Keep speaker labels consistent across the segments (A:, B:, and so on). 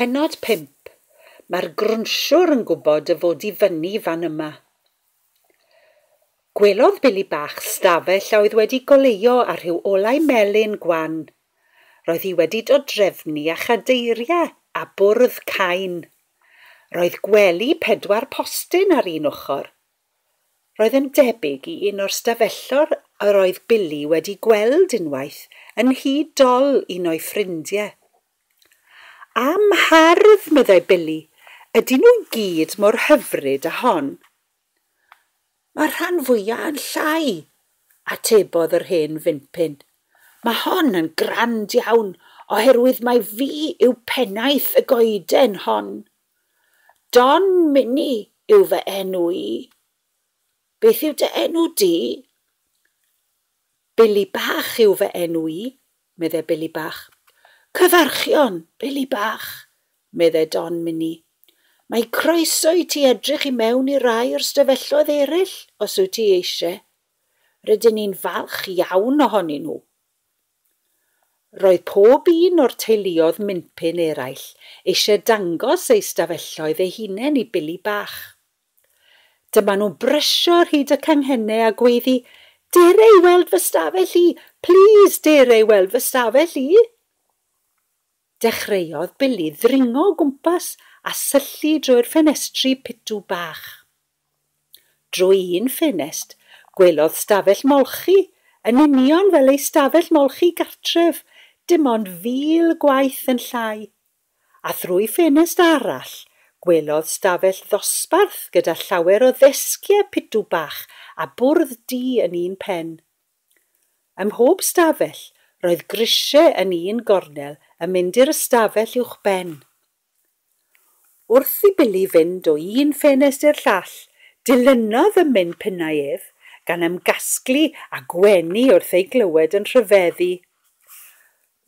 A: Pennod 5, Mae'r grwnsiwr yn gwybod y fod i fyny fan yma. Gwelodd Billy Bach stafell a oedd wedi goleuo â rhyw olau melyn gwan. Roedd hi wedi dod drefnu â chadeiriau a bwrdd cain. Roedd gwely pedwar postyn ar un ochr, Roedd yn debyg i un o'r stafelloedd yr oedd Billy wedi gweld unwaith yn nhŷ dol un o'i ffrindiau. Am hardd, meddai Billy, ydyn nhw i gyd mor hyfryd â hon. Mae'r rhan fwyaf yn llai, atebodd yr hen fympyn. Mae hon yn grand iawn oherwydd mai fi yw pennaeth y goeden hon. Don Mini yw fy enw i. Beth yw dy enw di? Billy Bach yw fy enw i, medde Billy Bach. Cyfarchion, Billy Bach, medde Don Mini. Mae croeso i ti edrych i mewn i rai o'r stafelloedd eraill, os wyt ti eisiau. Rydyn ni'n falch iawn ohonyn nhw. Roedd pob un o'r teuluodd minpin eraill eisiau dangos eu stafelloedd eu hunain i Billy Bach. Dyma nhw'n brysio ar hyd y canghennau a gweiddi, Dere i weld fy stafell i! Plîs, dere i weld fy stafell i! Dechreuodd Billy ddringo o gwmpas a syllu drwy'r ffenestri pitw bach. Drwy un ffenest, gwelodd stafell molchi, yn union fel ei stafell molchi gartref, dim ond fil gwaith yn llai. A thrwy ffenest arall, gwelodd stafell ddosbarth gyda llawer o ddesgiau pitw bach a bwrdd du yn un pen. Ym mhob stafell, roedd grisiau yn un gornel yn mynd i'r ystafell uwchben. Wrth i Billy fynd o un ffenest i'r llall, dilynodd ym mhen pinnau ef, gan ymgasglu â Gwenny wrth ei glywed yn rhyfeddu.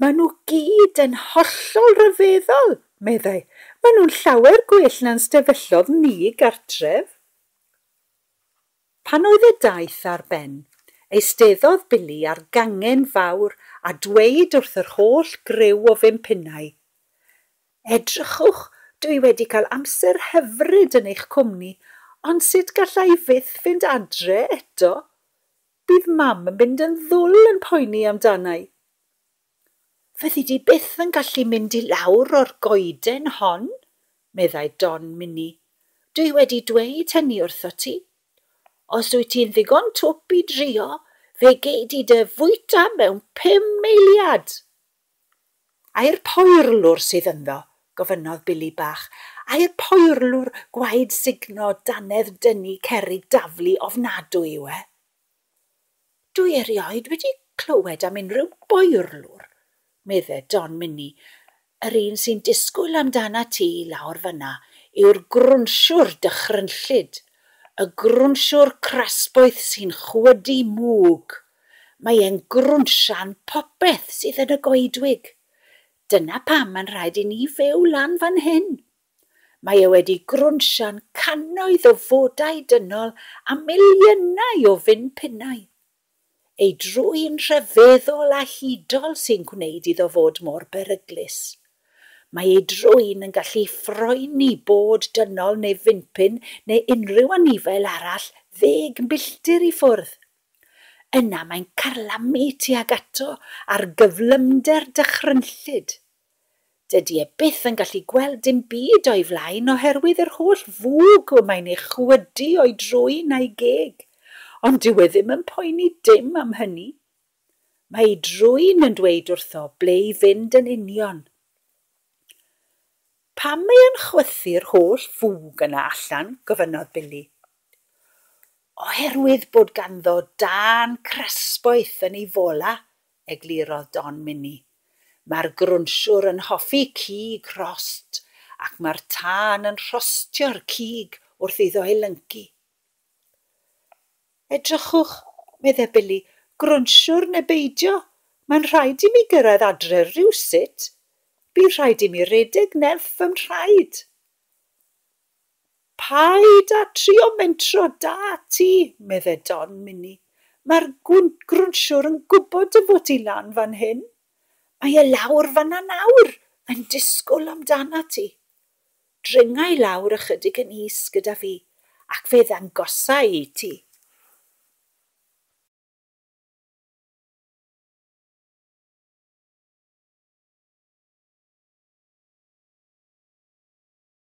A: Maen nhw gyd yn hollol ryfeddol, meddai. Maen nhw'n llawer gwell na'n stefellodd ni gartref. Pan oedd y daith ar ben, eisteddodd Billy ar gangen fawr a dweud wrth yr holl griw o fum punnau, Edrychwch, dw i wedi cael amser hyfryd yn eich cwmni, ond sut galla i fyth fynd adre eto? Bydd Mam yn mynd yn ddwl yn poeni amdana i. Fyddi di byth yn gallu mynd i lawr o'r goeden hon, meddai Don Minnie. Dwi wedi dweud hynny wrthot ti. Os wyt ti'n ddigon twp i drio, fe gei di dy fwyta mewn pum eiliad! Ai'r poerlwr sydd ynddo? gofynnodd Billy Bach. Ai'r poerlwr gwaed sugno dannedd dynnu cerrig daflu ofnadwy yw e? Dwi erioed wedi clywed am unrhyw boerlwr, medde Don Minni, yr un sy'n disgwyl amdanat ti lawr fan'na yw'r grwnsiwr dychrynllyd, y grwnsiwr crasboeth sy'n chwydu mwg. Mae e'n grwnsian popeth sydd yn y goedwig. Dyna pam mae'n rhaid i ni fyw lan fan hyn. Mae e wedi grwnsio'n cannoedd o fodau dynol a miliynau o fin pinnau. Ei drwyn rhyfeddol a hudol sy'n gwneud iddo fod mor beryglus. Mae ei drwyn yn gallu phoeni bod dynol neu finpin neu unrhyw anifail arall ddeg milltir i ffwrdd. Yna mae'n carlamu tuag ato ar gyflymder dychrynllyd. Dydy e byth yn gallu gweld dim byd o'i flaen oherwydd yr holl fwg y mae'n ei chwydu o'i drwyn a'i geg, ond dyw e ddim yn poeni dim am hynny. Mae ei drwyn yn dweud wrtho ble i fynd yn union. Pam mae o'n chwythu'r holl fwg yna allan? gofynnodd Billy. Oherwydd bod ganddo dân crasboeth yn ei fola, eglurodd Don Mini. Mae'r grwnsiwr yn hoffi cig rhost ac mae'r tân yn rhostio'r cig wrth iddo ei lyncu. Edrychwch, meddai Billy, grwnsiwr neu beidio, mae'n rhaid i mi gyrraedd adre rywsut. Bydd rhaid i mi redeg nerth fy mhraid. Paid â trio mentro da ti, medde Don Minni, mae'r gwynt grwnsiwr yn gwybod dy fod ti lan fan hyn. Mae e lawr fan'na nawr, yn disgwl amdanat ti. Dringa i lawr ychydig yn is gyda fi, ac fe ddangosa i ti.